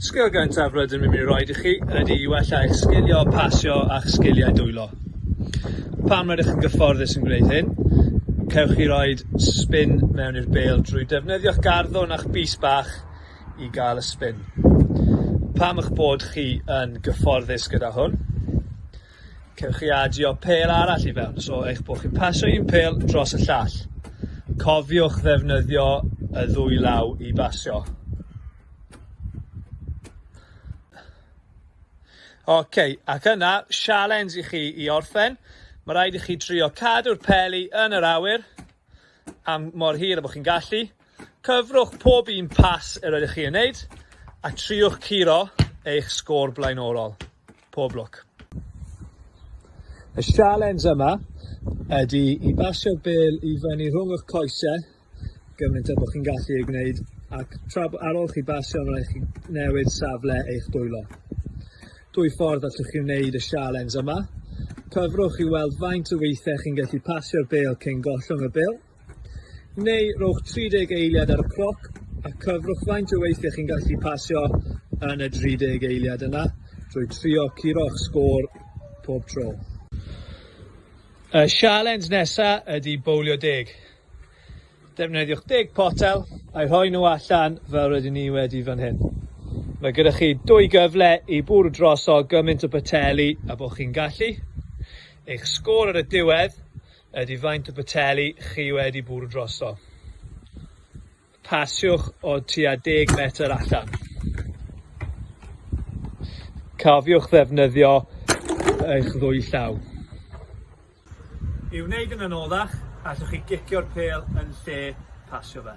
Sgil gyntaf rydym yn mynd i roed i chi ydy i wella eich sgilio pasio a'ch sgiliau dwylo. Pam rydych yn gyfforddus yn gwneud hyn? Cewch chi roed spin mewn i'r bêl drwy defnyddio'ch garddwn a'ch bys bach i gael y spin. Pam eich bod chi yn gyfforddus gyda hwn? Cewch chi adio pêl arall i fewn, so eich bod chi'n pasio un pêl dros y llall. Cofiwch ddefnyddio y ddwy law i basio. Oce, okay, ac yna, sialens i chi i orffen. Mae rhaid i chi trio cadw'r peli yn yr awyr am mor hir y bod chi'n gallu. Cyfrwch pob un pas yr ydych chi yn wneud a triwch curo eich sgôr blaenorol. Pob lwc. Y sialens yma ydy i basio'r bel i fyny rhwng eich coese gymaint â bod chi'n gallu ei gwneud ac tra ar ôl chi basio rhaid chi newid safle eich dwylo. Dwy ffordd allwch chi wneud y sialens yma. Cyfrwch i weld faint o weithiau chi'n gallu pasio'r bel cyn gollwng y bel neu rhowch 30 eiliad ar y cloc a cyfrwch faint o weithiau chi'n gallu pasio yn y 30 eiliad yna drwy trio curo'ch sgôr pob tro. Y sialens nesa ydy bowlio deg. Defnyddiwch deg potel a'i rhoi nhw allan fel rydyn ni wedi fan hyn. Mae gyda chi dwy gyfle i bwrw droso gymaint o bateli a bod chi'n gallu. Eich sgôr ar y diwedd ydy faint o boteli chi wedi bwrw drosto. Pasiwch o tua 10 metr allan. Cofiwch ddefnyddio eich ddwy llaw. I wneud yn anoddach, allwch chi gicio'r pêl yn lle pasio fe.